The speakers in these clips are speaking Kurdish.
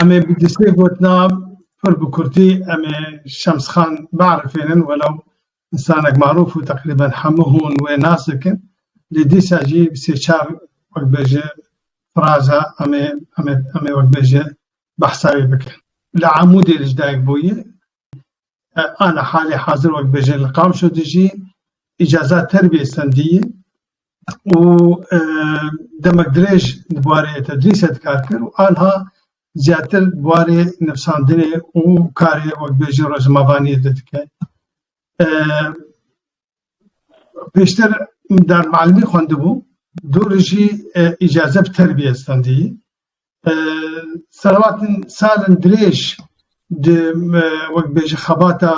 Em ê bi destê gotina pir bi kurtî em ê Şemsxan biarifênin welew însanek marûf û teqrîben hemû hûn wê nas dikin lê dîsa jî bi sê çar wekbêje firaza em ê em ê em ê wekbêje behsa wî bikin. Li Amûdê li dayik bûye. Ana halê hazir wekbêje li Qamşo dijî. Îcaza terbiyê sendî ye. û demek dirêj di barê tedrîsê de kar kir û aniha zêdetir di barê nivîsandinê û karê wek bêjin rojnamevaniyê de dike. Pêştir darmealimî xwendibû, dûrî jî îcaze bi terbiyê stendiyî. Selahattin salên dirêj di wek bêjin xebata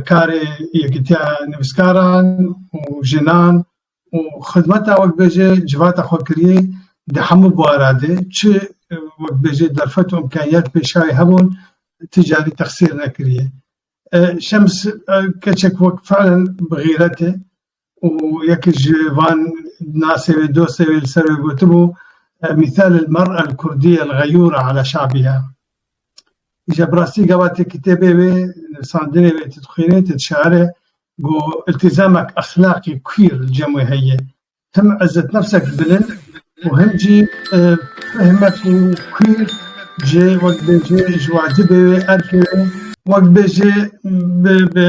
karê Yekîtiya Nivîskaran û Jinan û xizmeta wekbêjê civata xwe kiriyê di hemû buara de çi wekbêjê derfet û imkaniyet pêşayê hebûn ti carî texsîr nekiriye. Şems keçek wek filan bi xîretê û yekî ji van nasê wê dostê wê li ser wê gotibû mîsel el mer el kurdî el xeyûra ala şabîha. Îja bi rastî gava tê kitêbê wê nivîsandinê wê tê dixwînê tê dişare ku îltîzamek exlaqî kwîr li cem wê heye. Tim ezetnefsek bilind û hin jî fehme ku kûr ji wekbêjê ji wacibê wê erkê wê wekbêjê bi bi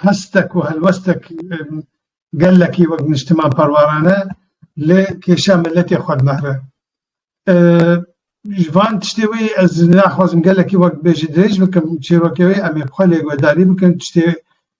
hestek û helwestek gelekî wek niştiman parwarane lê kêşa miletê xwe dinehre. Ji van tiştê wê ez naxwazim gelekî wekbêjê dirêj bikim çêrokê wê em ê bi xwe lê guhdarî bikin tiştê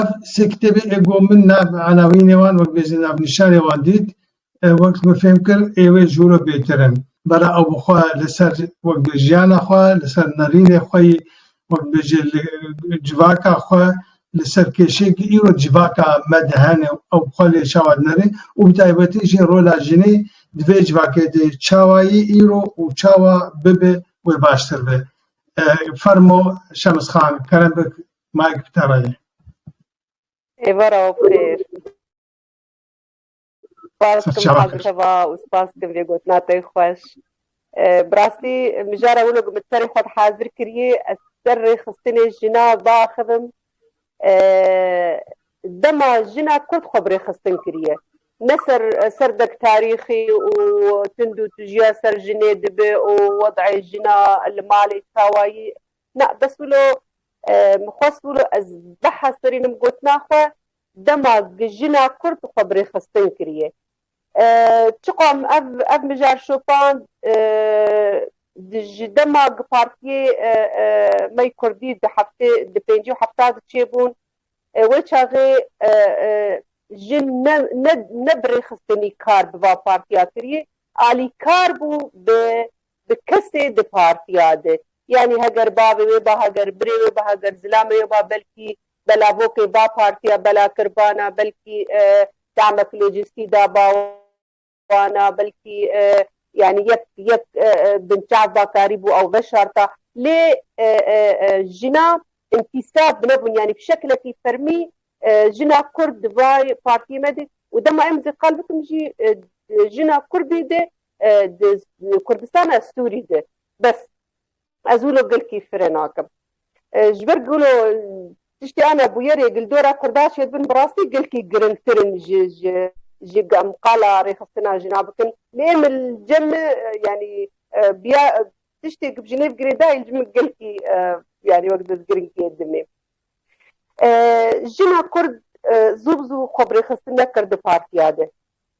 Ev sê kitêbê ê ku min nav Elawînê wan wek bêjin navnîşanê wan dît, wek min fêm kir ê wê ji wilo bêtir in. Bera ew bi xwe li ser wek bê jiyana xwe, li ser nerînê xwe yî, wek bêjê li civaka xwe, li ser kêşeyê ku îro civaka me de hene û ew bi xwe lê çawa dinere û bi taybetî jî rola jinê di vê civakê de çawa yî îro û çawa bibe wê baştir be. Fermo Şems Xan, Kerem Beg Mike bi te re ye. Êvara û bi xêr. Spas kim Serçava kir. Hazika va û spas kim vê gotina te xweş. Eh, Bi rastî mijara wilo ku min serê xwe dihazir kirî ez ser rêxistinê jina biaxivim. Eh, Dema jina Kurd xwe bi rêxistin kiriye. Ne ser serdek tarîxî û tundûtijîya ser jinê dibe û wed'ê jina li malê çawa yî Na, bes wilo min xwest wilo ez beha serînim gotina xwe dema gi jina kurd xwe bi rêxistin kiriye. Çiqo em ev ev mijar şopand ji dema gi partiyê me yê kurdî di heftê di pêncî û hefta di çêbûn wê çaxê jin ne ne ne bi rêxistinî kar bi va partiya kiriye alîkar bû bi Bi kesê di partiya di. Yanî heger bavê wê ba heger birê wê ba heger zilamê wê ba belkî belavokê ba partiya bela kir bana belkî damek lojîstî da ba wana belkî yanî yek yek binçav ba karî bû ew veşarta lê jina întisab bi nebûn yanî bi şeklekî fermî jina kurd di vay partiyê me de û dema em zî qal bikim jî jina kurdî de Di Kurdistana Sûrî de bes ez wilo gilkî firê nakim. Ji ber ku wilo tiştê ana bûyerê gildora Kurda şêd bin bi rastî gilkî girîngtir in ji ji ji qala rêxistina jina bikin. Lê em li cem me yanî biya tiştê ku bi jinê bigirê dayîn ji min gilkî yanî wek di girîngiyê dimê. Jina Kurd zû bi zû xwe bi rêxistin nekir di partiya de.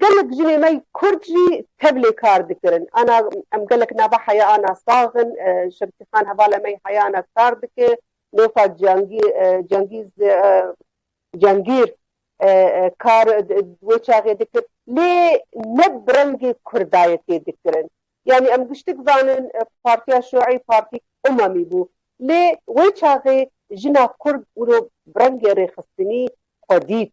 Gelek jinê me kurd jî tevlê kar dikirin. Ana em gelek nava heya ana sax in. Şevtî Xan hevala me yê heya ana kar dike. Nûfa Cengîz Cengîr kar di wê çaxê dikir. Lê ne bi rengê kurdayetê dikirin. Yanî em giştik zanin Partiya Şûî partîk umamî bû. Lê wê çaxê jina kurd wilo bi rengê rêxistinî xwe dît.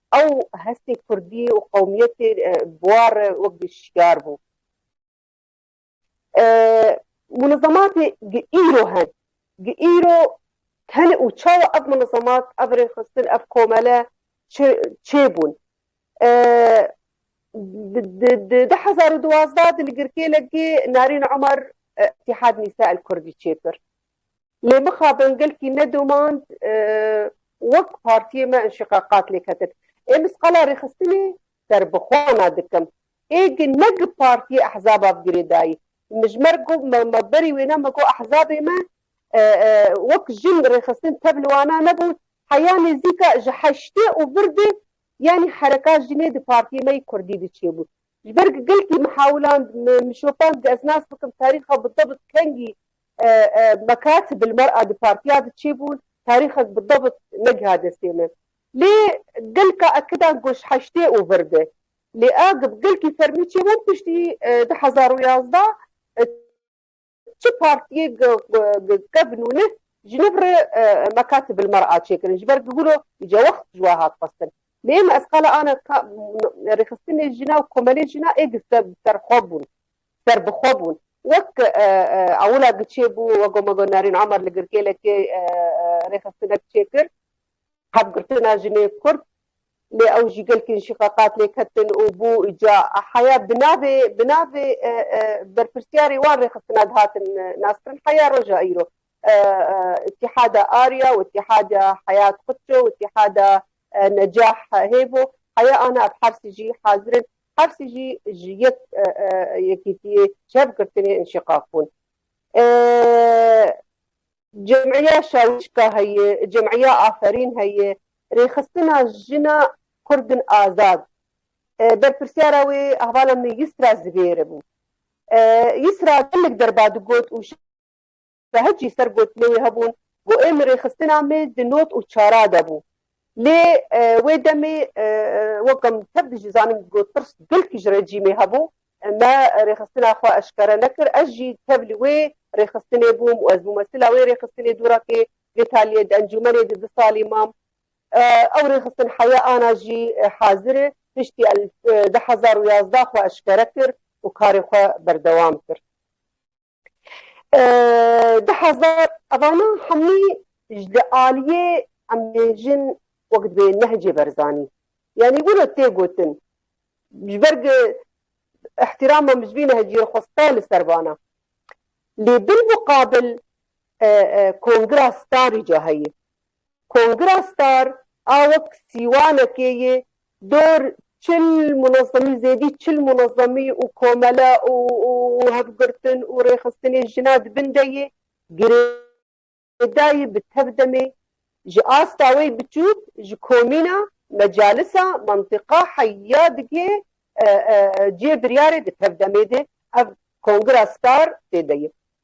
Ew hestê kurdî û qewmiyetê bi war re wek bi şiyar bû. Munezematê gi îro hen. Gi îro tenê û çawa ev munezemat, ev rêxistin, ev komele çi çê bûn? Di di du hezar û duwazdeh de li girkêlekê Narîn Omer Îtîhad Nîsa El Kurdî çêkir. Lê mixabin gelkî ne domand wek partiyê me înşîqaqat lê ketin. Ê misqala rêxistinê serbixwana dikim. Ê gi ne gi partiyê ehzaba bi girêdayî. Mijmer got me berî wêne me got ehzabê me wek jin rêxistin tevli wana nebû heya nêzîka ji heştê û vir de yanî hereka jinê di partiyê me yî kurdî diçêbû. Ji ber ku gelkî min hewland, min şopand ku ez nas bikim tarîxa bidebit kengî Mccarthy bi li mal a di partiya de çêbûn, tarîxek bidebit negiha destê min. Lê gelka Ekidan ku ji heştê û vir de li Agip gelkî fermî çêbûn piştî du hezar û yazdeh, Çi partiyê gkevn û nih ji nif re mekatib il mer a çêkirin ji ber ku gulo îca wext ji we hat xwestin. Lê êma ez qala ana ka rêxistinê jina û komelê jina ê gi serxwe bûn, serbixwe bûn. Wek ewila giçê bû wego me got Nerîn Omer li Girkêlekê rêxistinek çêkir, hevgirtina jinê kurd Lê ew jî gelkî ji qeqat lê ketin û bû ca heya bi navê bi navê berpirsyarê wan rêxistina dihatin naskirin heya roja îro Îtîhada Arya û Îtîhada Heyat Xutço û Îtîhada Necah Hêvo heya ana ev hersî jî hazir in hersî jî ji yek yekîtiyê çev girtinê înşîqaq bûn. Cemîya Şawîşka heye, Cemîya Aferîn heye, Rêxistina Jina Kurdin Azad. Berpirsyara wê hevala min Yisra Zivêri bû. Yisra gelek derba digot û şahid jî ser gotinê wê hebûn ku ê min rêxistina me di not û çara de bû. Lê wê demê wek em tev dijizanin ku tirs dilkî ji rejîmê hebû Me rêxistina xwe eşkere nekir. Ez jî tev li wê rêxistinê bûm û ez mûmesila wê rêxistinê dûrakê Vêtaliyê di encûmenê de du salî mam. Ew rêxistin heye ana jî hazir e. Piştî du hezar û yazdeh xwe eşkere kir û karê xwe berdewam kir. Di hezar evana hemî ji li aliyê em bêjin wek divê nehcê berzanî. Yanî wilo tê gotin ji ber ku ihtirama min ji vî nehcî re xwe sta li ser vana. Lê bil muqabil kongira starî ca heye. Kongra Star a wek sîwanekê yê dor çil munezemî zêdî çil munezemî û komele û hevgirtin û rêxistinê jina di bin de yê girêdayî bi tev demê ji asta wey biçûk ji komîna, mecalisa, mentiqa, heya digê cihê biryarê di tev demê de ev Kongra Star tê de yê.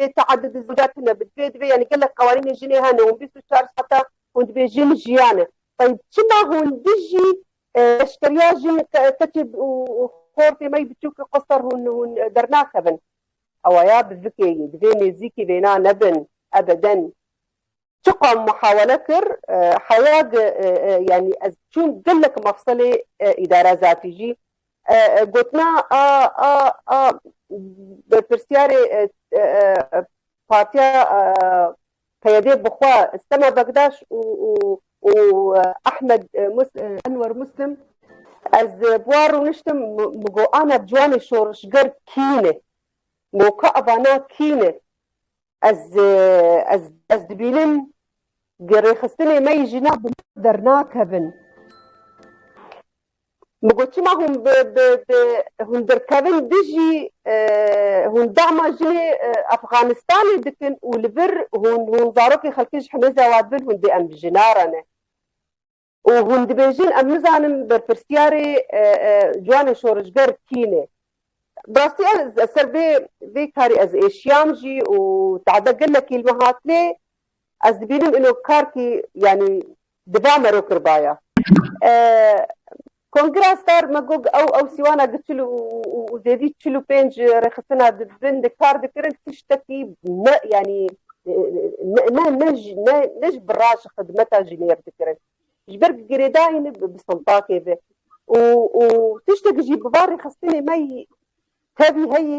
Lê teaddud û zîga tune bi divê divê yanî gelek qewanînê jinê hene hûn bîst û çar saetan hûn dibê jin jiyane. Tayîb çima hûn dijî leşkeriya jin keçê û xor têmeyî biçûk qestar hûn hûn dernaxevin? Awaya bi vikê yê divê nêzîkî vêna nebin ebeden. Çiqam muhawele kir heya di yanî ez çûn gelek mefsilê îdara zatî jî gotina a a a berpirsyarê partiya PYDê bi xwe Sema Bekdaş û û û Ehmed Enwer Muslim Ez bi wan rûniştim min got ana ciwanê şorişger kî ne? Moka evana kî ne? Ez ez ez dibînim di rêxistinê me yî jîna bi dernakevin. Bi got çima hûn bi bi bi hûn dirkevin dijî hûn dama jinê Efxanistanê dikin û li vir hûn hûn zarokê xelkê ji himêza wan bin hûn dê em bijî narane. Û hûn dibêjin em nizanin berpirsyarê ciwanê şorijger kîn e. Bi rastî ez li ser vê vê karî ez êşiyam jî û tade gelekî li me hat lê ez dibînim îno karkî yanî di va mero kiribaya. Kongra Star Magog ew ew sîwana gi çil û zêdî çil û pênc rêxistina di bin de kar dikirin tiştekî ne yanî ne ne ne ne ji bi ra ji xidmeta jî nêr dikirin. Ji ber ku girêdayîn bi sintakê ve û û tiştekî jî bi va rêxistinê me tevî heyî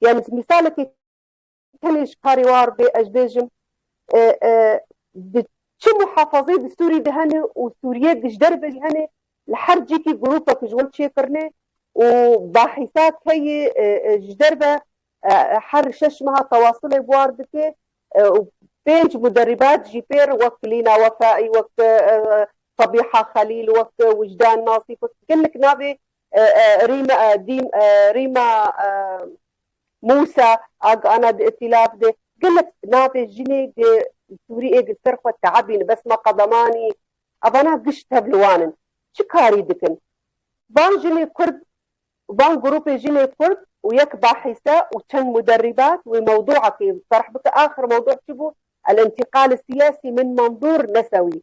Yani ji mîsalekê tenê ji karê war bê ez bêjim di çi muhafazeyê di Sûrî de hene û Sûriye di ji derve jî hene li her cîkî grûpek ji wan çêkirine û bahîsa keyê ji derve her şeş meha tewasilê buar dike û pênc muderîbat jî pêr wek Lîna Wefai wek Sabiha Xelîl wek Wijdan Nasîf wek gelek navê Rîma Dîm, Rîma Mûsa a gana di îtîlaf de gelek navê jinê di Sûriyê di ser xwe teebîn bes ma qedemanî evana giş tev li wan in. Çi karî dikin? Van jinê Kurd Van grûpê jinê Kurd û yek bahîse û çend muderrîbat wê mewdûekê terh bike. Axir mewdû çi bû? El-intîqal-i-siyasî min Manzûr Nesewî.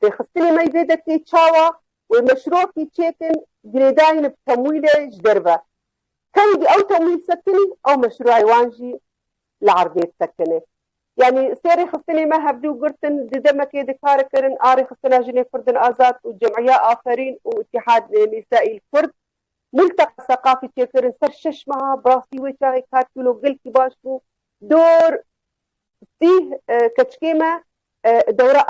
Têxistinê me yî vê de tê çawa wê meşrokî çêtin girêdayîn bi temwîlê ji derve. Kengî ew temwîl sekinî ew meşroyê wan jî li erdê sekinê. Yanî sê rêxistinê me hevdu girtin, di demekê de kar kirin a Rêxistina Jinê Kurdin Azad û Cemîya Aferîn û Îtîhad Nîsayîl Kurd Multeka Seqafî çêkirin ser şeş meha, bi rastî wê çaxê karkîlo gelkî baş bû. Dor sîh keçikê me Dewra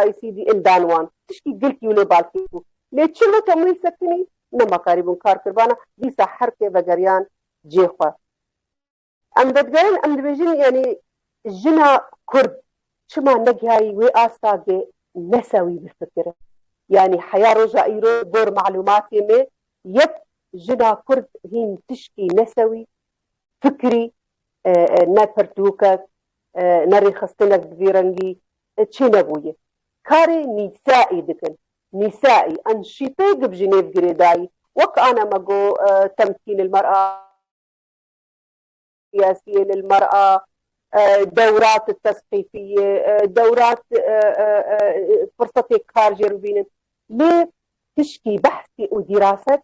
ICD'in dan wan. Tişkî girkî û lêbalkî bû. Lê çi weke Muhîl Sekinî nema karî bûn kar kir vana dîsa her kê vegeriyan cê xwe. Em vedigerin em dibêjin yanî jina Kurd çima negihayî wê asta ge nesa wî bifikire. Yanî heya roja îro li gor malûmatê me yek jina Kurd hîn tişkî nesa wî fikirî ne pirtûkek Ne rêxistinek bi vî rengî çê nebûye. Karê nîsa'î dikin. Nîsa'î, an şîpê gib jî nêv girê dayî. Wek ana me got Temkîn il mer'a, siyasiyên il mer'a, dewrat il tesqîfiyê, dewrat firsatê kar jê bibînin. Lê tişkî behsî û dîraset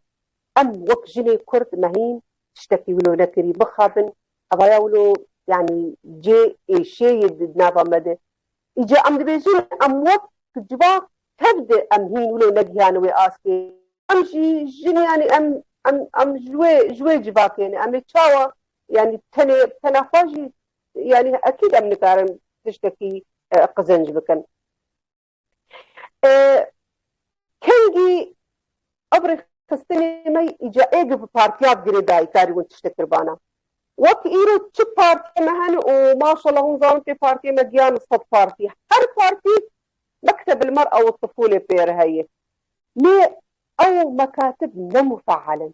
em wek jinê kurd mehîn tiştekî wilo nekirî. Bixabin Evaya wilo yanî cê ê şê yê di nava me de. Îca em dibêjin em wek tu civa kev di em hîn wilo negihiyane wê astê. Em jî jin yanî em em em ji wê ji wê civakê ne. Em ê çawa yanî tenê tena xwe jî yanî ekîd em nikarin tiştekî qizenc bikin. Kengî ev rêxistinê me îca ê giv partiya bi girê dayîkarî win tiştê kir bana. Wek îro çi partiyê me hene û maşallah hûn zanin pê partiyê me giyan li sed partî. Her partî mektebil mer ew tifûlê pê re heye. Lê ew mekatib ne mufeal in.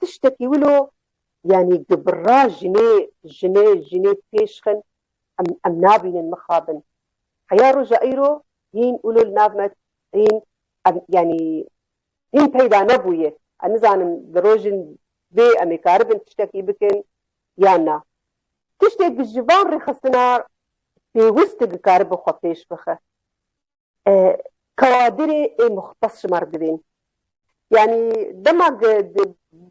Tiştekî wilo yanî gibirra jinê jinê jinê pêş xin em em nabînin mixabin. Heya roja îro hîn wilo li nav me hîn em yanî hîn peyda nebûye. Ez nizanim di rojin vê em ê karibin tiştekî bikin yan na. Tiştê ku ji van rêxistina pêwist digikaribin xwe pêş bixe. Kawadirê ê muxtes ji me re divên. Yanî dema di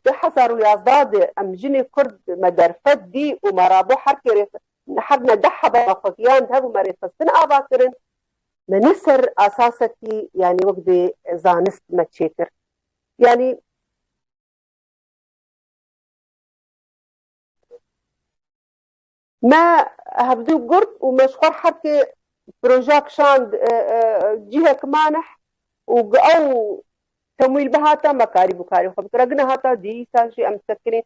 du hezar û yazdeh de em jinê kurd me derfet dî û me rabû her kê rê her ne deh heba me xwe giyand hebû me rêxistin ava kirin me ne ser esasekî yanî wek bi zanist me çêkir. Yanî Me hevdû gurt û me ji xwe herkê projeya kişand cihek manih û gi ew temwîl bihata me karî bû karê xwe bikira gina hata dîsa jî em sekirîn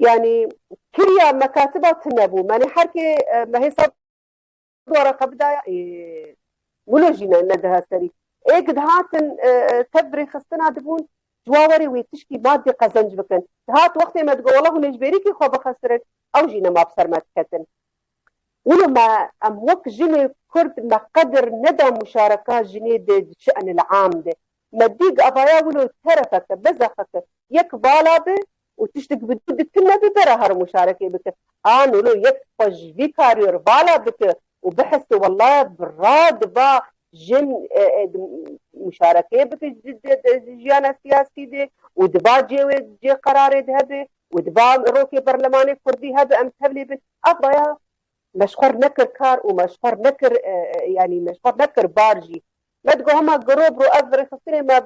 yanî kiriya mekatiba tune bû menê herkê me hêsa Dwara xwe bidaya ê wilo jî ne diha serî. Ê ku dihatin tev bi rêxistina dibûn ji wa werê wê tişkî maddî qezenc bikin. Dihat wextê me digot wela hûn ê ji bêrîkî xwe bixisirin ew jî nema bi ser me diketin. Wilo me em wek jinê kurd me qedir neda muşareka jinê dê di şenil am de. Me dî gavaya wilo terefeke, bezexeke yek vala bi û tiştek bi dû dikin ne bi vera herim muşarekê bike. A nolo yek xwe ji vî kariyo re vala bike û bihese wela bi ra diba jin muşarekê bike di jiyana siyasî de û diba cê wê cê qerarê de hebe û diba rokê berlemanê kurdî hebe em tevlî bin. Ev baya me ji xwe nekir kar û me ji xwe nekir yanî me ji xwe nekir bar jî. Me digo hema girobro ev rêxistinê me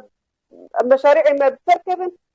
em meşarî'ê me bi ser kevin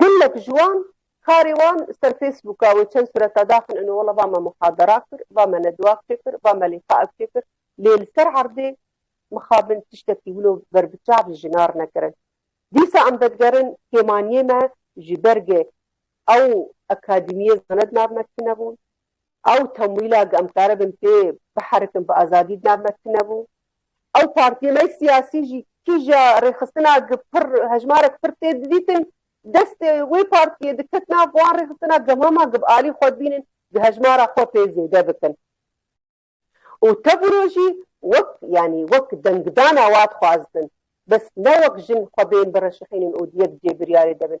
Gelek ji wan karê wan ser Facebooka wê çend sureta daxin ino wela va me muhadera kir, va me nedwak çêkir, va me lîqaek çêkir lê li ser erdê mixabin tiştekî wilo ber bi çav ji jinar nekirin. Dîsa em vedigerin kêmaniyê me ji bergê ew akadîmiyê zanedna bi me tune bûn, Ew temwîla ku em karibin pê biherikin bi azadî di nav me tunebû. Ew partiyên me siyasî jî kîja rêxistina ku pir hejmarek pir tê didîtin destê wê partiyê diket nav wan rêxistina gemama ku bi alî xwe dibînin ku hejmara xwe pê zêde bikin û tevro jî wek yanî wek dengdana wat xwaztin bes ne wek jin xwe bên bireşixînin û di yek cêbiryarê de bin.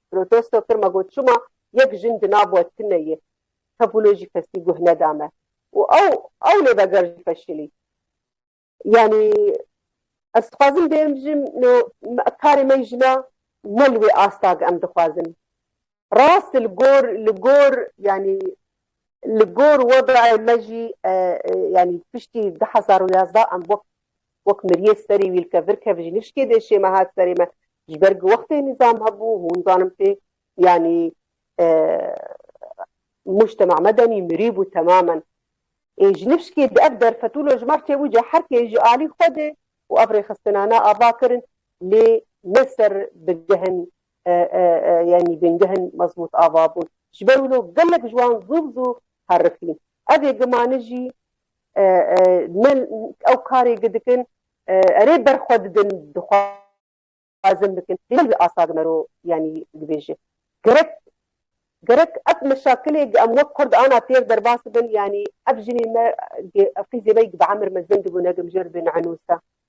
Protesto kir me got çima yek jin di nav we tune yê. Tevûlê jî kesî guh neda me û ew ew lê veger jî feşilî. Yanî ez dixwazim bêrim jin no karê me jina ne li wê asta ge em dixwazin. Rast li gor li gor yanî li gor wedayê me jî yanî piştî du hezar û yazdeh em wek Wek miriyê serî wîlke vir kev ji nişkê dê şême hat serê me. Ji ber ku wextê nîzam hebû hûn zanim tê yanî mujtema me demî mirî bû temamen. Ê ji nişkê di ev derfetû lojman çewûce her kê ji alî xwe dê û ev rêxistinane ava kirin lê ne ser bigihin yanî bingihin mezmût ava bûn. Ji ber wilo gelek ji wan zû bi zû herifîn. Ev ê gimane jî ne ew karê gi dikin erê ber xwe didin dixwazin bikin lê ne wî asa gi me ro yanî dibêje gerek gerek ev meşakilê gi em wek kurd ana têr derbas bibin yanî ev jinê me gi ew qîzê me yî gi bi emir mezin dibûne gi mijêr dê nehenûsa.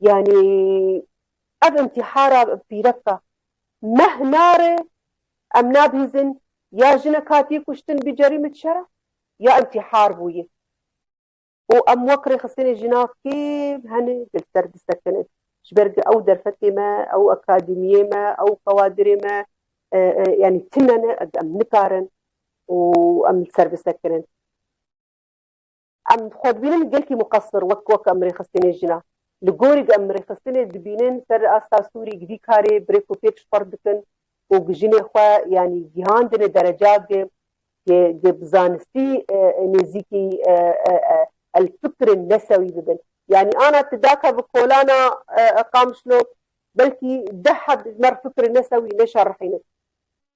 Yanî ev intîhara pîrek e. Meh nare em nabihîzin ya jinek hatiye kuştin bi cerîmet şer e ya intîhar bûye û em wek rêxistinê jina kêm hene li ser disekinin. Ji ber ku ew derfetê me, ew akademiyê me, ew kawadirê me yanî tune ne, em nikarin û em li ser bisekinin. Em xwe dibînin gelkî muqesir wek ku wek em rêxistinê jina. Li gorî ku em rêxistinê dibînin ser asta Sûrî vî karê bi rêk û pêk ji xwe re dikin û ku jinê xwe yanî gihandine dereca ke ke bi zanistî nêzîkî el fikirên nesewî bibin. Yanî ana tu daka bi kolana Qamişlo belkî deh heb ji mer fikirên nesewî neşerihînin.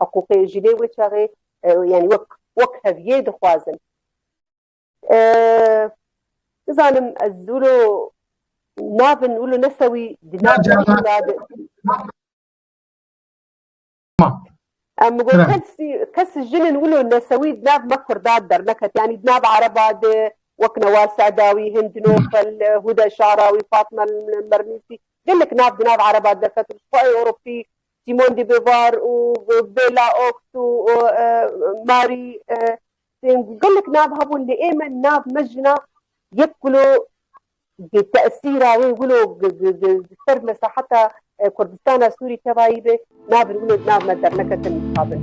Hiqûqê ji lê wê çaxê yanî wek wek heviyê dixwazin. Nizanim ez wilo navin wilo nesewî di nav Em got kesî kesî jinin wilo nesewî di nav me Kurdan derneket yanî di nav Ereba de wek Newal Sedawî, Hind Nofel, Huda Şarawî, Fatma Mernisî gelek nav di nav Ereba derket û ji xwe ê Ewropî Simone de Beauvoir û Bella Okt û Mary tên ku gelek nav hebûn lê ê min nav me jina yek wilo bi tesîra wê wilo li ser mesaheta Kurdistana Sûrî tevayî be navên wilo di nav me derneketin mixabin.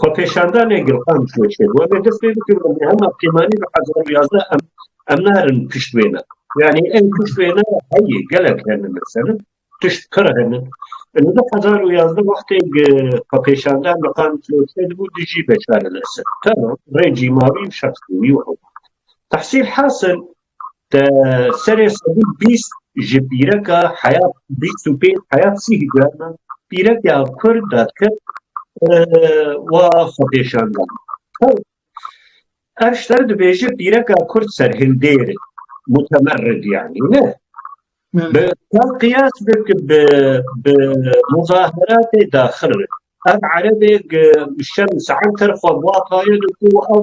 Xwepêşandanê Gulxan Çûçê, Were dest pê bikin ku hema pêmanî bi hezar û yazdeh em em narin pişt wê ne. Yanî ew pişt wê ne heye gelek hene mesele tişt pir hene. Li du hezar û yazdeh wextê xwepêşandan Gulxan Çûçê dibû dijî beşar el-Esed. Tamam rê cîmavî û şexsî wî were. Tehsîl hasil Te serê sedî bîst ji pîreka heyat bîst û pênc heyat sî hîcrana pîrekeya kurd de kir wa xwepêşandan. Ev şter dibêje pîreka kurd serhildêr mutemerrid yanî ne. Bi ka qiyas bik bi bi muzaheratê daxil re. Ev erebêk şem saeter xwe bua tayê de ku ew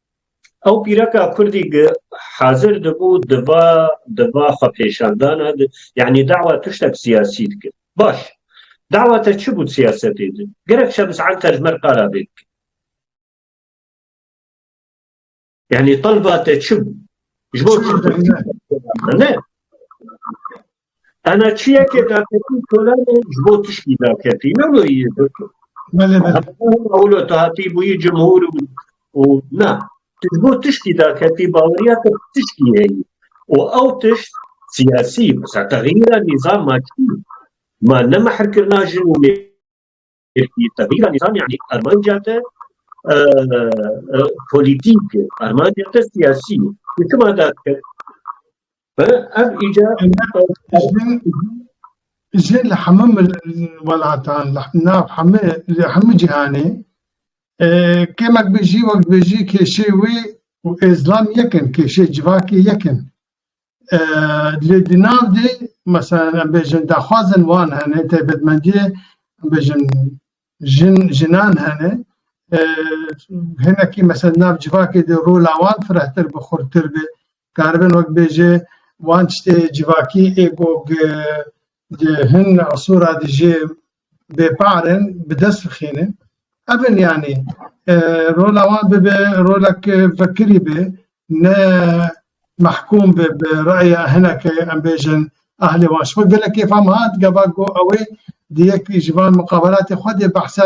Ew pîreka Kurdî gi hazir dibû di va di va xwepêşandana de yanî dawa tiştek siyasî dikir. Baş. Dawa te çi bû siyasetê de? Gerek Şems Anter mer qala vê bike. Yanî talba te çi bû? Ji bo çi? Ne. Ana çiyekê daketî solanê ji bo tiştî daketî ne wê yê bikin. Ewlo tu hatî bûyî cimhûr û na tu ji bo tiştî daketî baweriya te tiştî heyî û ew tişt siyasî wisa texîra nîzama çî ma ne mehrkirina jin û Tevîra nîzam yanî armanca te polîtîk, armanca te siyasî. Hikima dat kir. Ev îca jê li hemû welatan nav hemû li hemû cîhanê kêmek bijî wek dibêjî kêşê wê û Êzlan yekin, kêşê civakê yekin. Lê di nav de mesela em bêjin daxwazin wan hene taybetmendiyê em bêjin jin jinan hene hinekî mesela nav civakê de rola wan firehtir bi xurtir be karibin wek bêje wan tiştê civakî ê gog di hin asûra dijê bêparên bi dest bixîne. Ev in yanî rola wan bibe rolek vekirî be ne mehkûm be bi reya hineke em bêjin ehlê wan. Ji bo gelekê fam hat gava ku ew ê di yek ji van muqabelatê xwe de behsa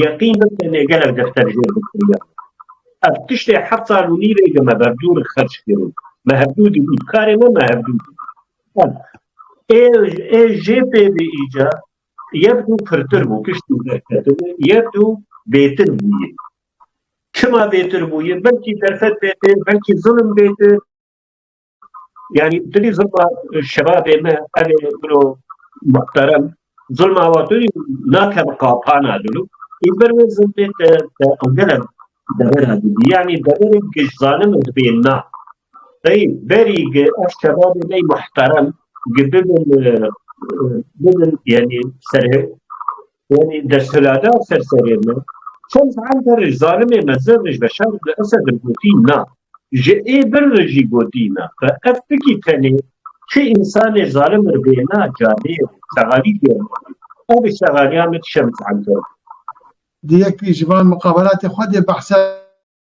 Yeqîn be tenê gelek defter jêr bikiriya min. Ev tiştê heft sal û nîvê li me berdûr xerc kirî. Me hevdû dibîn. Karê me me hevdû dibîn. Ev ê ê jê pê bê îca yek dû pirtir bû piştî derketibû yek dû bêtir bûye. Çima bêtir bûye? Belkî derfet bêtir, belkî zilim bêtir. Yani dilî zilma şebabê me evê biro muhterem zilma wa tu nake bi qapana dilû ê ber wê zilmê te te engele devera dibî yani deverê giş zanim dibê na Hey berî gi ev şebabê me muhterem gi bibin bibin yani serhe Yanî desthilatda ser serê me çend saet berê zalimê mezin Rêj Beşar li Esed li gotî na, ji ê bir li jî gotî na, xwe ev fikî tenê çi însanê zalim li bêhna cadeyê re şegalî fêr bikî, ev ji şegalîya me ti Şems Enver bû. Di yekî ji van muqabelatê xwe de behsa.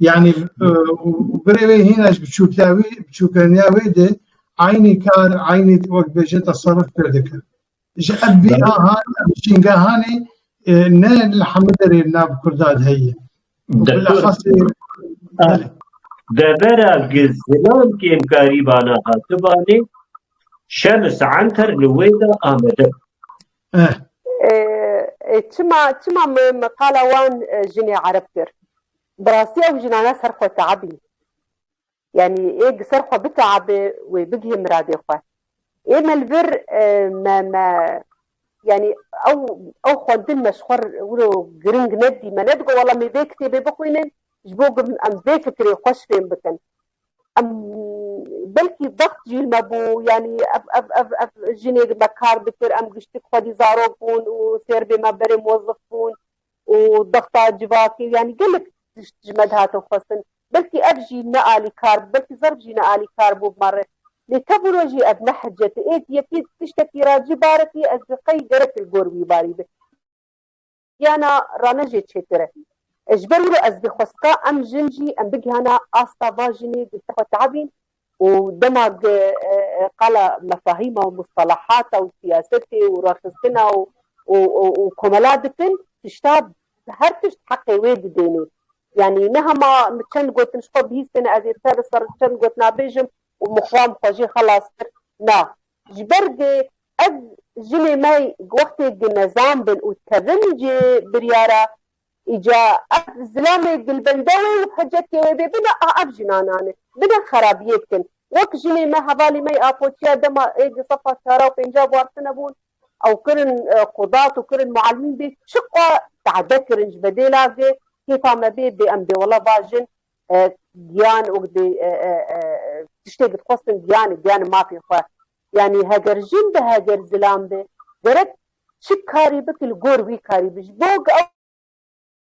Yani birê wê hîna ji biçûkiya wî biçûkeniya wê de aynî kar aynî wek bêje tasarruf pê dikir. Ji ev bîna han şîngehanê ne li hemû derê nav Kurda de heye. Bilexasê Devera gi zilam kêmkarî vana hatibanê Şems Enter li wê de amede. Çima çima me qala wan jinê erib kir? Bi rastî ew jinane ser xwe teebîn. Yanî ê di ser xwe biteebe wê bigihê miradê xwe. Ê me li vir me me yanî ew ew xwendin me ji xwe wilo giring nedî. Me nedigot wela me vê kitêbê bixwînin ji bo ku em vê fikirê xweş fêm bikin. Em belkî vext jîl me bû yanî ev ev ev ev jinê di me kar dikir em giştik xwedî zarok bûn û sêrbê me berê mozif bûn û dexta civakê yanî gelek tişt ji me dihatin xwestin. Belkî ev jî ne alîkar bû belkî zerf jî ne alîkar bû bi me re. Lê tevîro jî ev ne hicet ê. Êdî yekî tiştekî ra cî barekî ez bi qey gerek li gor wî barî bi. Giyana Rane jê çêtir e. Ji ber wî re ez dixwestka em jin jî em bigihana asta va jinê dil te xwe teabîn û dema qala mefahîma û mustelahata û siyasetê û rexistina û komela dikin tişta bi her tişt heqê wê didênê. Yanî ne hema min çend gotin ji xwe bihîstêne ez ê ser li ser çend gotina bêjim û min xwe min xwe jê xelas kir. Na. Ji ber vê ev jinê me ji wextê gi nezam bin û tevin ji biryara îca ev zilamê gilbende wê û hecekê wê bê bina a ev jinana ne. Bina xerabiyê dikin. Wek jinê me hevalî me yê Apoçiya dema ê di sefa çara û pênca bwardtine bûn ew kirin qudat û kirin mualmîn bê çiqwa tade kirin ji bedêla vê kêfa me bê bê em bê wela va jin giyan û tiştê ku dixwestin giyanê, giyanê mafê xwe. Yanî heger jin be, heger zilam be gerek çi karî bike li gor wî karî be ji bo ku ew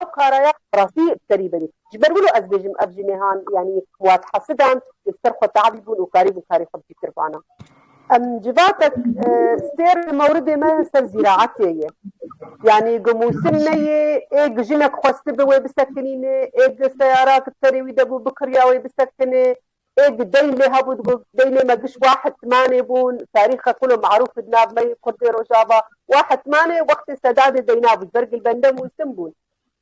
ew kara ya bi rastî bi serî bibî. Ji ber wilo ez bêjim ev jinêhan yanî wat hesidan û li ser xwe tavî bûn û karî bûn karê xwe bi fîkir bana. Em civatek sêr li mewridê me ser zîraetê ye. Yanî ku mûsim ne yê ê ku jinek xwestibe wê bisekinîne, ê ku seyara ku di serê wî de bû bikiriya wê bisekine, ê ku deyn lê hebû digot deynê me giş wa hetmanê bûn, tarîxa kul û merûf di nav me yê kurdê rojava wa hetmanê wextê sedadê deyna bû ji ber gilbende mûsim bûn.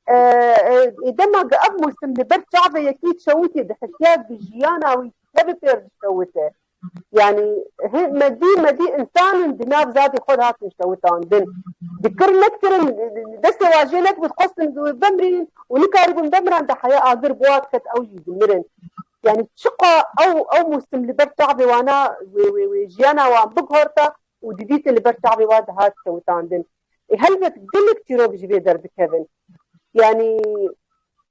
Ê dema ku ev mûsim li ber çavê yekî çewitî dihisiya ku jiyana wî tevê pêr dikewite. Yanî hê medî medî însan in di nav zadê xwe de hatin şewitandin. Di kir nektirin, destê wan jê nekbû dixwestin bi wê bimrîn û nikarîbûn bimiran de heya agir bi wan diket ew jî dimirin. Yanî çiqa ew ew mûsim li ber çavê wan a wê wê wê jiyana wan biguherta û didîtin li ber çavê wan de hat şewitandin. Ê helbet gelek çîrok ji vê derdikevin. Yanî.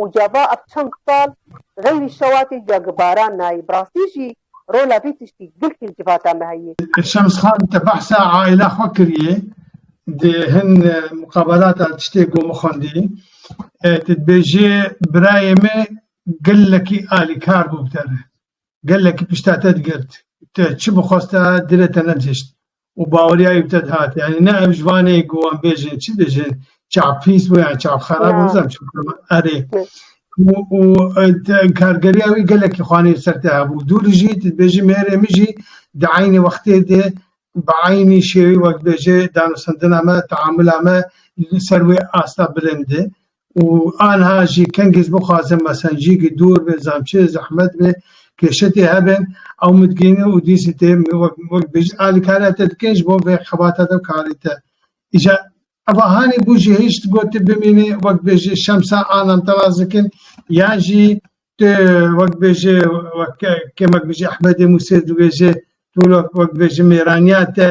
û gava ev çend sal xeyrî şewatê ya gibaran nayê, bi rastî jî rola vî tiştî girk li civata me heye. Şems Xan te behsa aîla xwe kiriye di hin muqabalata tiştê gomî xwendî tu dibêjê birayê min gelekî alîkar bû bi te re. gelekî pişta te digirt û te çi bixwast te di re te nedihişt û baweriyayî bi te dihat. Yanî ne ev ji van ê ku wan bêjin çi dijin çav pîs bû yan çav xerab bû bizan çi bû erê û kargeriya wî gelekî xwanê ser te hebû. Dûrî jî tu dibêjî mêrê min jî di eynî wextê de bi eynî şêwî wek bêje danûstandina me, teamula me li ser wê asta bilind e. û anha jî kengî ji bo xwaze mesencî ki dûr be, zamçê zehmet be, kêşetê hebe ew midigihîne û dîsî tê wek bêjin alîkariya te dike ji bo vê xebata te û karê te. Îja eva hanê bû jî hêj tu got tu bimînî wek bêjî şemsa anam te rast dikin yan jî tu wek bêjî wek kêmek bijî ehmedê mûsê dibêje tu wek bêjî mêraniya te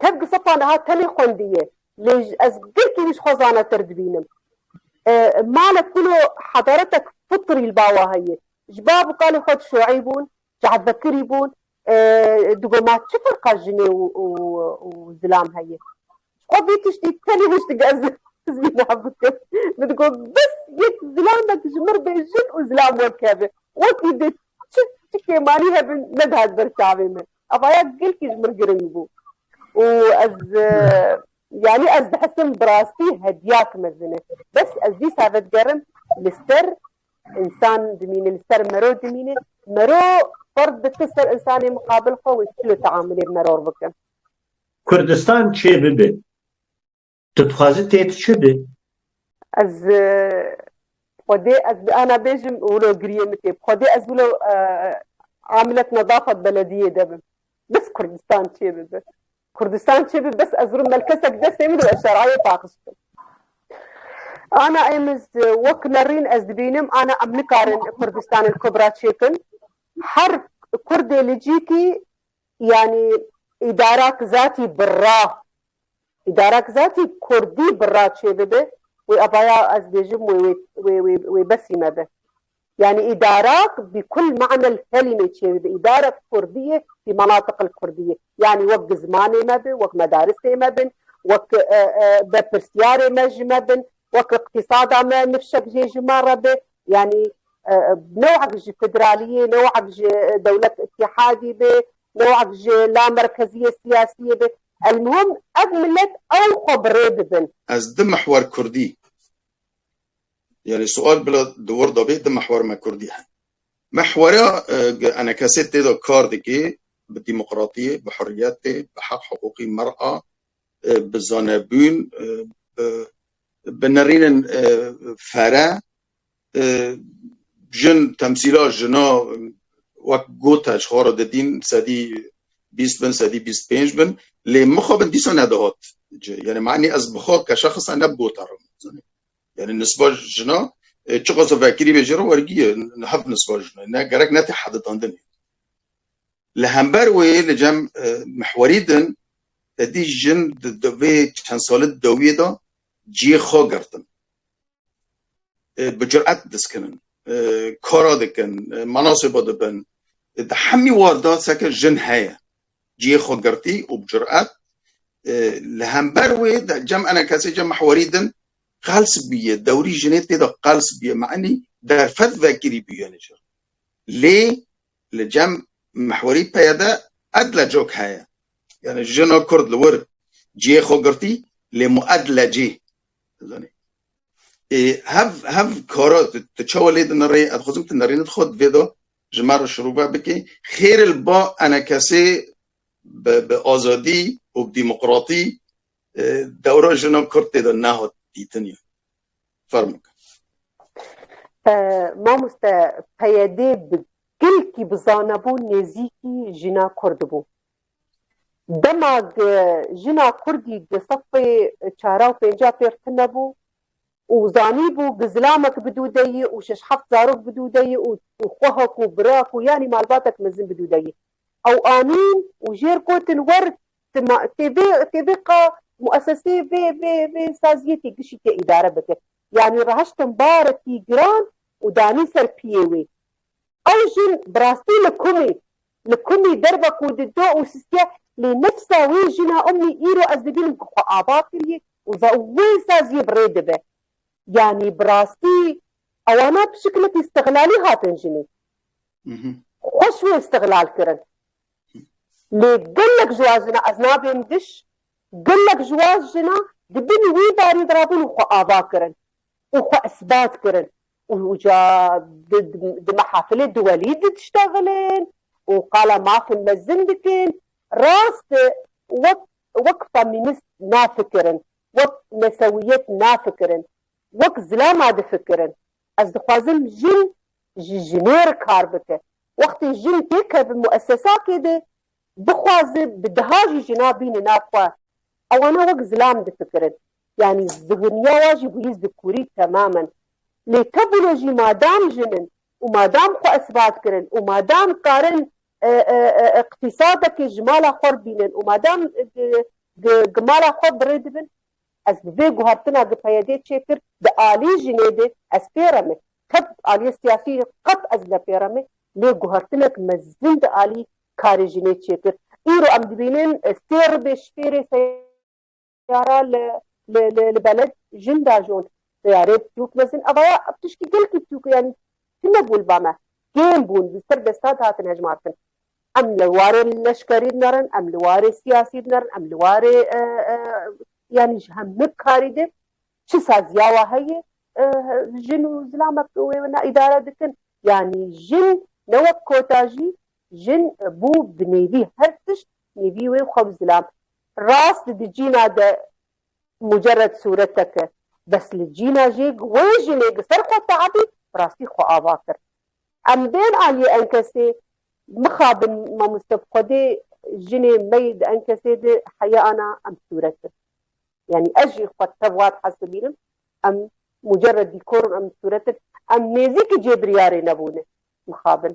Tev di sefa niha tenê xwendî ye, lê ez girkî wî ji xwe zanetir dibînim. Male kulo hedaretek fitrî li bawa heye. Ji bav û kalê xwe dişoî bûn, cehvekirî bûn. Di go ma çi ferqa jinê û zilam heye? Ji xwe vî tiştî tenê hişt dike ez zîna bikim. Min di go bes yek zilamek ji mir bê jin û zilam wek keve. Wekî dê çi kêmanî hebin nedihat ber çavê min. Evaya gelkî ji min giring bû û ez yanî ez dihesim bi rastî hediyak mezin e. Bes ez dîsa vedigerim li ser însan dimîne, li ser mero dimîne. Mero ferz dike ser însanê miqabil xwe wê çi li teamulê bi meror bikin. Kurdistan çê bibe. Tu dixwazî tê tu çi bî? Ez Xwedê ez ana bêjim wilo giriyê min tê. Bi Xwedê ez wilo amilet nedafa di belediyê de bim. Bes Kurdistan çê bibe. Kurdistan çê bibe bes ez rim melkesek destê min û ez şerayê paxis bikim. Ana êmiz wek lerîn ez dibînim ana em nikarin Kurdistan el Kubra çêkin. Her Kurdê li cî kî yanî îdara ki zatî birra Îdarek zatî kurdî bi ra çêbibe wê ava ya ez bêjim wê wê wê wê wê besî me be. Yanî îdarak bi kul manel kelîmê çêbibe îdarek kurdî yê bi menatiqil kurdî yê. Yanî wek bi zimanê me bi, wek medarisê me bin, wek berpirsîyarê me ji me bin, wek îqtîsada me nifşek jê ji me re be. Yanî newek ji federalîyê, newek ji dewlet îtîhadî be, newek ji lamerkezîyê sîyasîyê be. Elmuhim ev milet ew xwe bi rê bibin. Ez di mihwer kurdî yanî sual bila di wir de bê di mihwer me kurdî he. Mihwera enekesê tê de kar dikê bi demokratiyê, bi huriyetê, bi heq hiqûqî mir a, bi zanebûn, bi bi nirînin fere, Jin, temsîla jina wek got e ji xwe re didîn sedî bîst bin, sedî bîst pênc bin lê mixabin dîsa nedihat cih. Yanî me'nî ez bi xwe keşexisa ne bi gota re zanîm. Yanî nisba jina çiqas vekirî be jê re wergî ye hev nisba jina ne gerek ne tê heditandin e. Li hember wê li cem mihwerî din tedî jin di vê çend sali dawiyê de cihê xwe girtin. bi curet diskinin, kara dikin, manasê bo dibin. Di hemî war de seke jin heye cihê xwe girtî û bi curet li hember wê de cem ene kesê cem mihwarî din qels bûye, dewrî jinê tê de qels bûye enî derfet vekirî bûye li cem. Lê li cem mihwarî peye de edle cok heye. Yanî jina kurd li wir cihê xwe girtî lê mu edle cî Hev hev kara tu çawa lê dinirê ez dixwazim tu nerînî tu xwe di vê de ji me re şirove bikî xêr li ba ene kesê bi bi azadî û bi dîmoqratî dewra jina kurd tê de nehat dîtin ya fermo ke. Mamoste peyedê bi gilkî bi zanebûn nêzîkî jina kurd bû. Dema jina kurdî di sefê çara û pênca pêx tune bû û zanîbû bi zilamek bidûdeyî û şeş heft zarok bidûdeyî û xwehek û birak û yanî malbatek mezin bidûdeyî ew anîn û jêr gotin wer ti ma tê vê tê vê qa muesesê vê vê vê saziyê tê gişî tê îdare bike yanî reheştin barekî giran û danî ser piyê wê. Ew jin bi rastî li kum î. Li kum î derve ku di do û sistiye lê nefsa wê jina umnî îro ez dibînim ku xwe ava kiriye û ve û wê saziyê bi rê dibe. Yanî bi rastî ewana bi şikilekî stiglalî hatin jinê. Xweş wê stiglal kirin. Lê gelek ji wan jinan ez nabêm diş gelek ji wan jinan di bin wî barî de rabûn û xwe ava kirin. û xwe isbat kirin û uca di mehafilê di welî di diştexilin û qala mafên mezin dikin. Rast e wek wek femînîst nafikirin, wek nesewiyet nafikirin, wek zilama difikirin. Ez dixwazim jin ji jinê re kar bike. Wextê jin têkeve muesesakê de Bixwaze bi deha jî jina bîne nav xwe. Ewana wek zilam difikirin. Yanî zihiniya wa jî bûyî zikurî temamen. Lê tebûne jî madam jin in û madam xwe isbat kirin û madam karin iqtîsadekê ji mala xwe re bînin û madam gi mala xwe birê dibin, ez bi vê guhertina gi PYD çê kir di alî jinê de ez pê re me. Tep aliyê siyasî qet ez nepê re me lê guhertinek mezin di alî karê jî nêçêkir. Îro em dibînin sê ribê şfêrê seyara li li li beled jin dajon. Seyarê pirtûk mezin evaya piştî gelkî pirtûk yanî tune bû li ba me. Kêm bûn li ser destan hatin hejmartin. Em li warê leşkerî din erin, em li warê siyasî din erin, em li warê yanî ji hemû karî din Çi saziya wa heye jin û zilamek bi wê wina îdare dikin. Yanî jin ne wek kota jî jin bû bi nêvî her tişt nêvî wê xwe bi zilam. Rast di cîna de mucerred sûretek e bes li cîna jê wê jinê bi ser xwe teabî bi rastî xwe ava kir. Em bên aliyê enkesê mixabin mamoste bi xwedê jinê mey di enkesê de heya ana em sûret in. Yanî ez jî xwe tev wat hez dibînim. Em mucerred dîkor in, em sûret in. Em nêzîkî cêbiryarê nebûne mixabin.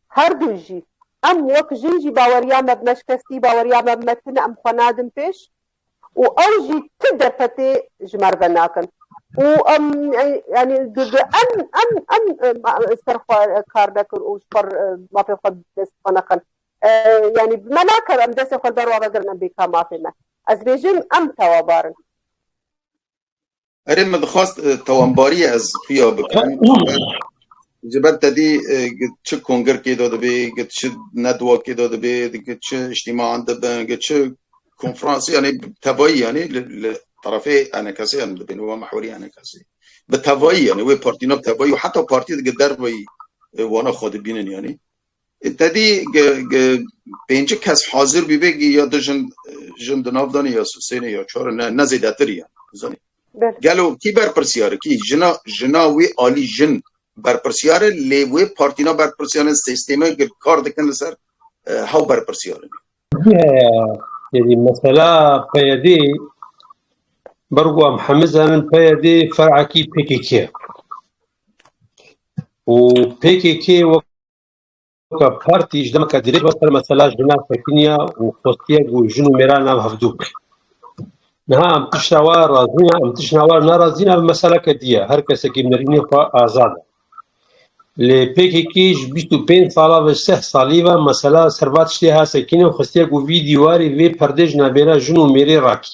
Her du jî. Em wek jin jî baweriya me bi me şikestî, baweriya me bi me tune, em xwe nadin pêş û ew jî ti derfetê ji me re venakin û em yanî di em em em ji ser xwe kar nekin û ji xwe re mafê xwe bi dest xwe nexin. Yanî bi me nakeve em destê xwe li ber wan vegirin em bêka mafê me. Ez dibêjim em tewabar in. Erê min dixwast tewambariyê ez xuya bikim ji ber te dî çi kongirkê de dibê git çi nedwakê de dibê git çi îştîmaan dibin git çi konferansê yanê tevayî yanê li terefê enekesê em dibên û mehwerî enekesê bi tevayî yanê wê partîna bi tevayî û heta partî digit derveyî wana xwe dibînin yanê Tedî pêncik kes hazir bîbê ya du jin jin di nav danê ya sosênê ya çar ne ne zêdetir ya zanî. Gelo kî berpirsiyar kî jina jina wî alî jin berpirsiyar e lê wê partîna berpirsiyar e sêstême gir kar dikin li ser hew berpirsiyar in. Yedî mesela PYD bergo em hemû zanin PYD ferekî PKK ye û PKK wek Ka partî ji demeke dirêj ve ser mesela jina tekiniya û xwestiye ku jin û mêran nav hevdû bike. Niha em tişta wa razî ne, em tişna wa nerazî ne, ev meseleke dî ye. Her kesekî nirînê xwe azad e. Lê PKK ji bîst û pênc sala ve, ji seh salî ve mesela ser va tiştê ha sekîne û xwestiye ku vî dîwarê, vê perdê ji navbêra jin û mêrê rakî.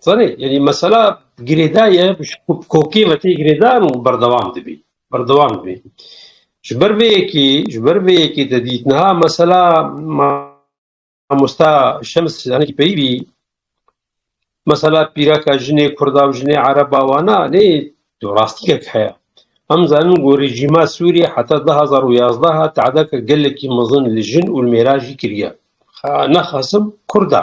Zanî yani mesela girêda ye kokê vetê girêda û berdewam dibî berdewam dibî ji ber vê yekî ji ber vê yekî te dît niha mesela mamosta şems zanî peyî bî mesela pîraka jinê kurda û jinê ereba wana nê tu rastîkek heye em zanin ku rejîma Sûrî heta du hezar û yazdeh tehdeke gelekî mezin li jin û li mêran jî kiriye nexasim kurda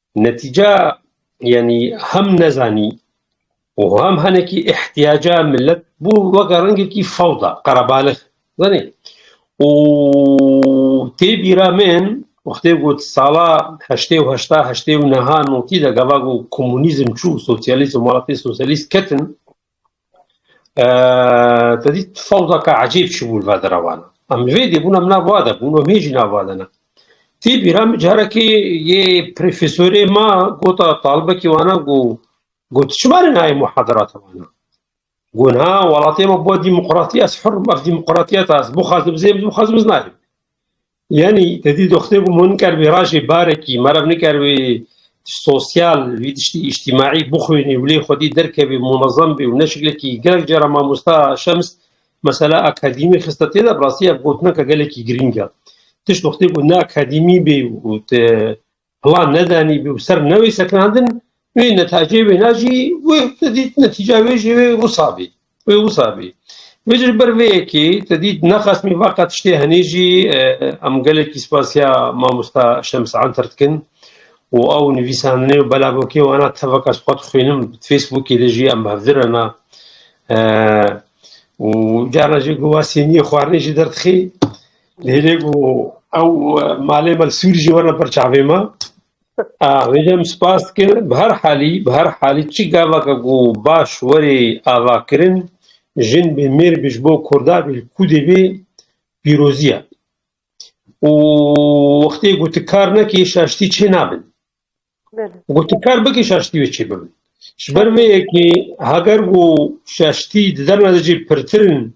Netîca yanî hem nezanî û hem hinekî îhtîyaca milet bû weke rengekî fewda, qerebalix zanî û tê bîra min wextê got sala heştê û heşta heştê û niha notî de gava ku komûnîzm çû û sosyalîzm welatê sosyalîst ketin, Te dît fewzeke ecîb çûbû li berdera wan. Em li vê dê bûn em nava de bûn em hê jî nava de ne. Tî bîra min carekê yê profesorê ma gota talibekî wana got got çima ne nayê muhadarata wana. Got na welatiyê me bo demokratî ez hur im ev demokratiyeta ez bixwazim zêm bixwazim ez nayêm. Yanî te dî doxtê bû min ker vê rajê barekî merev niker wê sosyal wî tiştî îjtîmaî bixwînî û lê xwedî derkevî munezem bî û ne şiklekî gelek cara mamosta Şems mesela akadîmî xiste tê de bi rastî ev gotineke gelekî girîng e. Tişt doxtê bû ne akadîmî bê û te Plan nedanî bî û ser ne wê sekinandin wê netacê wêna jî wê te dît netîca wê jî wê wisa bî. Wê wisa bî. Wê ji ber vê yekê te dît nexasmî vaqa tiştê henê jî em gelekî spasiya mamosta Şems Anter dikin û ew nivîsandinê û belavokê wana tevaka xwe dixwînim bi Facebookê de jî em hevdir hena û carna jî guhwasîniyê xwarinê jî derdixî Lêlê ku ew malê me Sûr jî werna ber çavê me. Vêjem spas dikir bi her halî bi her halî çi gavaka ku baş werê avakirin jin bê mêr bê ji bo kurda bê kûdê bê pîrozî ye. û wextê ku tu kar nekî şaştî çê nabin. Ku tu kar bikî şaştî wê çê bibin. Ji ber vê yekê heger ku şaştî di derna de jî pirtirin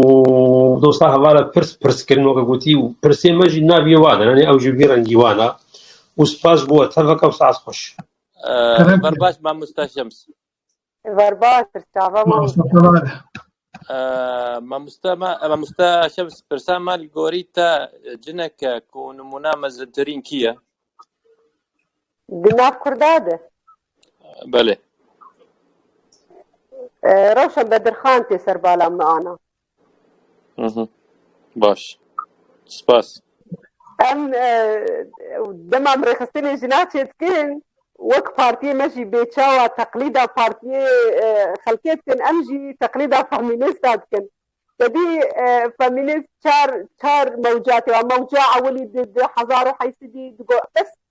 û dosta hevala pirs pirs kirin weke gotî û pirsê me jî naviyê wan e yanî ew jî vî rengî wan e û spas bo we teveke û saet xweş. Var baş mamosta Şems. Var baş çava wî. Mamosta me mamosta Şems pirsa me li gorî te cineke ku nimûna mezintirîn kî ye? Di nav kurda de. Belê. Ee, Rewşa Bedirxan tê ser bala min ana. Mhm. Baş. Spas. Em e, dema em rêxistinê jina çêdikin wek partiyê me jî bêçawa teqlîda partiyê e, xelkê dikin em jî teqlîda femînîsta dikin. Tedî e, femînîst çar çar mewcatê wa mewca ewilî di di hezar û heysidî di go bes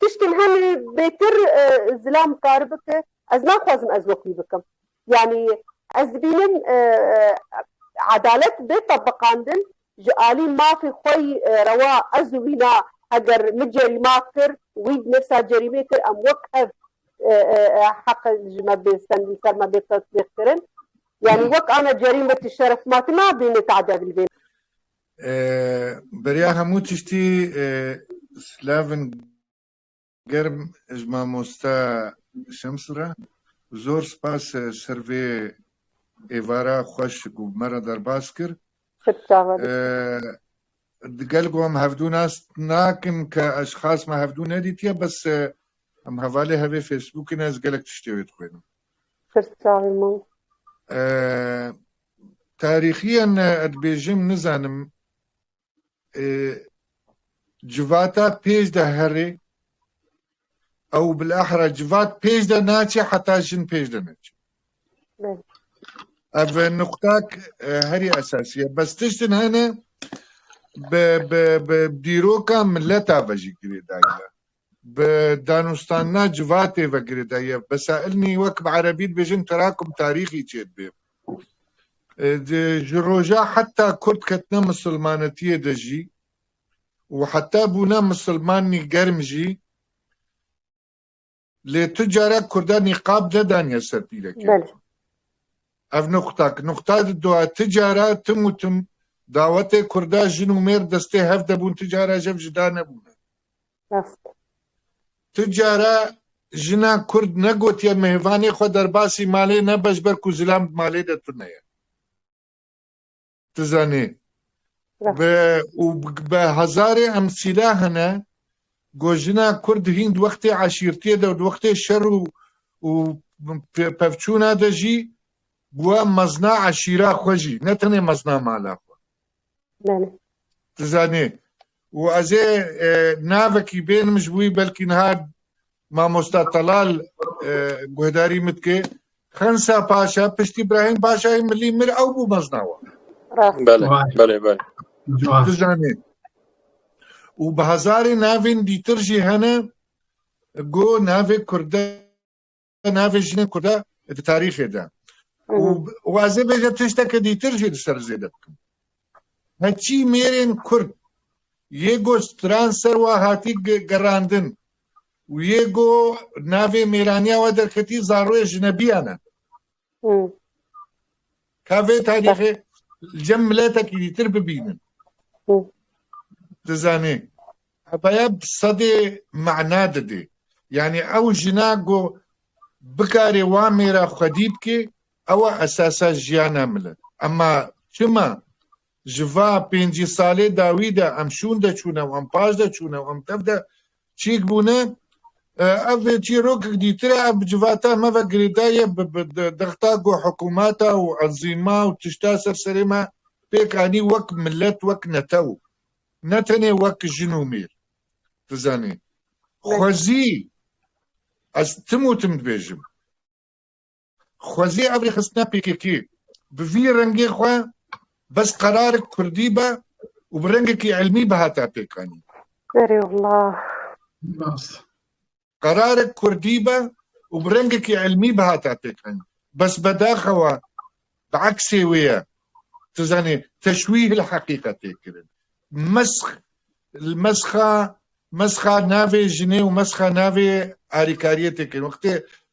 Tiştên hene bêtir zilam kar bike. Ez naxwazim ez wek wî bikim. Yanî ez dibînim edalet bê tebiqandin ji alî mafê xwe yî rewa ez û wî na heger min cerîma kir wî di nefsa cerîmê kir em wek hev heq ji me bê stend li ser me bê tetbîqkirin. Yanî wek ana cerîm be tu şeref ma tu nabînî tade bilbê. Beriya hemû tiştî slavên germ ji mamoste Şems re. Zor spas ser vê êvara xweş ku bi me re derbas kir. Di gel ku em hevdû nas nakin ke ez ji xas me hevdû nedîtiye bes em hevalê hevê Facebookê ne ez gelek tiştê wê dixwînim. Tarîxiyên ne dibêjim nizanim civata pêj de herê ew bilahra civat pêj de naçê heta jin pêj de neçê. Ev nuqtak e, herî esasî ye. Bes tiştin hene bi bi bi dîroka mileta ve jî girêdayî ye. Bi danûstana civatê ve girêda yev besailnî wek bi erebî dibêjin terakum tarîxî çêdibê. Ji roja heta kurd ketine misilmanetiyê de jî û heta bûne misilmanî germ jî lê tu carek kurda nîqab nedaniye ser pîlekê. Ev nuqta ki nuqta di dua ti cara tim û tim dawetê kurda jin û mêr destê hev de bûn ti cara jev jida nebûne. Rast. Tu cara jina kurd negotiye mehêvanê xwe derbasî malê nebe ji ber ku zilam di malê de tune ye. Tu zanî. Be û be hezarê emsîla hene ku jina kurd hîn di wextê eşîrtiyê de û di wextê şer û û pevçûna de jî bûye mezna eşîra xwe jî ne tenê mezna mala xwe. Belê. Tu zanî. Û ez ê navekî bênim ji wî belkî niha mamosta Telal guhdarî min dike. Xensa Paşa piştî Îbrahîm Paşayê milî mir ew bû mezna wan. Belê, belê, belê. Tu zanî. Û bi hezarê navên dîtir jî hene ku navê Kurd e. navê jinên Kurd e di tarîxê de û ez ê bêjim tişteke dîtir jî li ser zêde bikim. Heçî mêrên Kurd yê ku stran ser wan hatî gerandin û yê ku navê mêraniya wan derketî zaroyê jinebiyan e. Ka vê tarîxê li cem miletekî dîtir bibînin. Dizanî hebaya bi sedê mana didê. Yanî ew jina ku bikarê wan mêra xwedî bikê ew e esasa jiyana milet. Ema çima Ji va pêncî salê dawî de em şûn de çûne û em paş de çûne û em tev de çîk bûne. Ev çîrokek dîtir e. Ev bi civata me ve girêdaye bi dexta ku hikûmeta û enzîma û tişta ser serê me pêk anî wek milet, wek netew, ne tenê wek jin û mêr. Dizanî xwezî ez tim û tim dibêjim. Xwezî ev rêxistina pkk bi vî rengê xwe bes qerarek kurdî be û bi rengekî îlmî bihata pêkanîn. Qerarek kurdî be û bi rengekî îlmî bihata pêkanîn. Bes bedaxewa bi eksê wê ye. Tu zanî teşwîh li heqîqetê kirin. Mesk li meska meska navê jinê û meska navê alîkariyê tê kirin. Wextê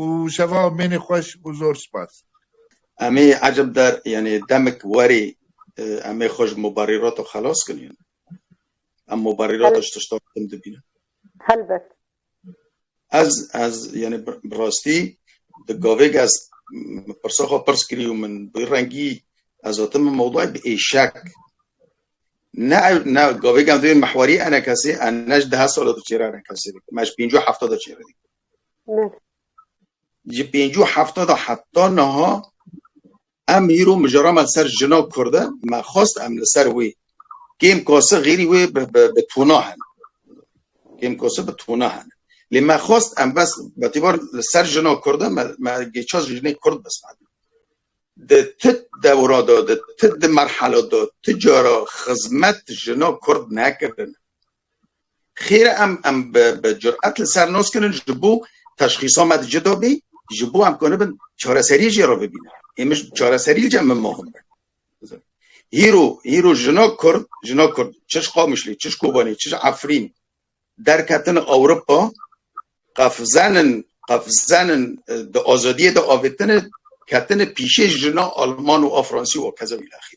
û şeva mênê xweş û zor spas. Emê eceb der yanê demik werê emê xwe ji mubarîrato xelas kin yan? Em mubarîrato ji tiştan tim dibînin? Helbet. Ez ez yanê bi rastî di gavêk ez pirsa xwe pirs kirî û min bi rengî ez hatim min mewdayê bi êşek ne ne gavêk em divê mihwarî enekesê enej dehe sala diçêre enekesê dikim ez pêncî û hefta diçêre dikim. Neh. Ji pêncû hefta da heta niha em hîro mijara me ser jina kurd e, me xwest em li ser wê kêm kose xêrî wê bi tona hene. Kêm kose bi tona hene. Lê me xwest em bes betîbar li ser jina kurd e me gêça ji jinê kurd bes me. Di tu dewra da di tu di merhela da tu cara xizmet jina kurd nekirin. Xêr e em em bi bi curet li ser nos kirin ji bo teşxîsa me cida bî, ji bo em konibin çareseriyê jê re bibînin. Êmij çareserî li cem min mohim be. Hîro hîro jina Kurd, jina Kurd çi ji Qamişlê, çi ji Kobanê, çi ji Efrîn derketin Ewropa, qefzenin qefzenin di azadiyê de avêtine, ketine pîşê jina Alman û a Fransî û a keza îlaxî.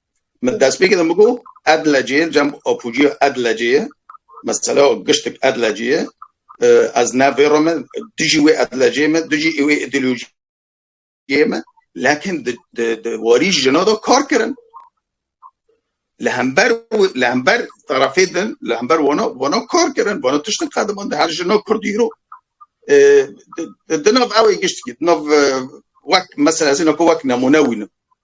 Min destpêkê de min got Edlecê ye, cem apucî ya Edlecê ye, mesela giştik Edlecê ye, ez navêro me dijî wê Edlecê me, dijî wê îdeolojiyê me, lekin di warî jina de kar kirin. Li hember li hember tarafê din, li hember wana wana kar kirin, wana tiştin qediman di her jina Kurdî îro di nav ewê giştikî di nav wek mesela ez ê nako wek nemûne wînim.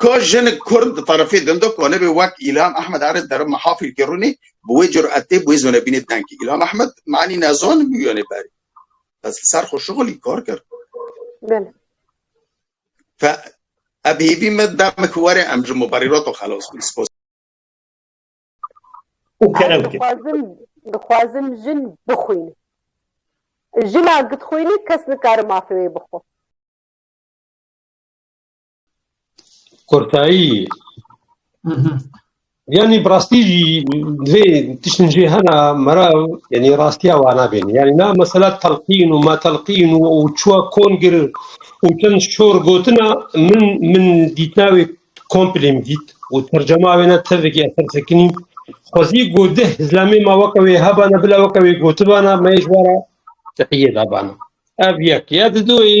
Ka jinik kurd di tarifê din de ka nebe wek Îlham Ehmed Erez derim me hafîl kê rûnê bi wê curetê bi wê zonebînê dengê Îlham Ehmed me enî nezan bû yanê berê ez li ser xwe şixulî kar kir. Belê. Fe ev hêvî me demek were em ji mubarîrato xelas bin. Spas. û kerew kir. Dixwazim dixwazim jin bixwîne. Jina gidxwîne kes nikare mafê wê bixwe. Kurtayî yanî bi rastî jî divê tiştin jê hena mera yanî rastiya wa nabêne. Yanî na mesela telqîn û ma telqîn û û çiwa kon gir û çend şor gotina min min dîtina wê komplê min dît û tercema wê ne tevekî eser sekinî xwezî got dih zlamê ma weke wê hebana bila weke wê gotibana me ji wara tehiyê dabana. Ev yek ya di duyê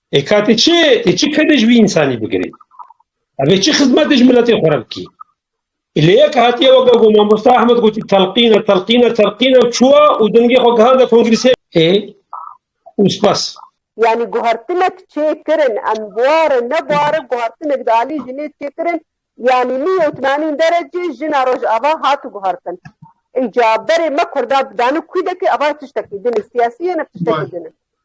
E ka tê çi tê çi kedê ji vî însanî bigirî? Evê çi xizmetê ji miletê xwe re bikî? Lê yek hatiye weke ku mamosta Ahmed gotî telqîne telqîne telqîne û çûye û dengê xwe gihande kongrîsê ê û spas. Yanî guhertinek çê kirin em buare ne buare guhertinek di alî jinê çê kirin yanî li yewtnanîn derecê jina rojava hat guhertin. Îca berê me kurda bi dane kwîdekê ava tiştekî din e siyasî ye ne tiştekî din e.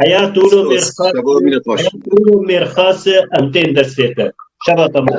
Heya tu û mêrxas mêrxas em tên dest pê te. Şeva te mor.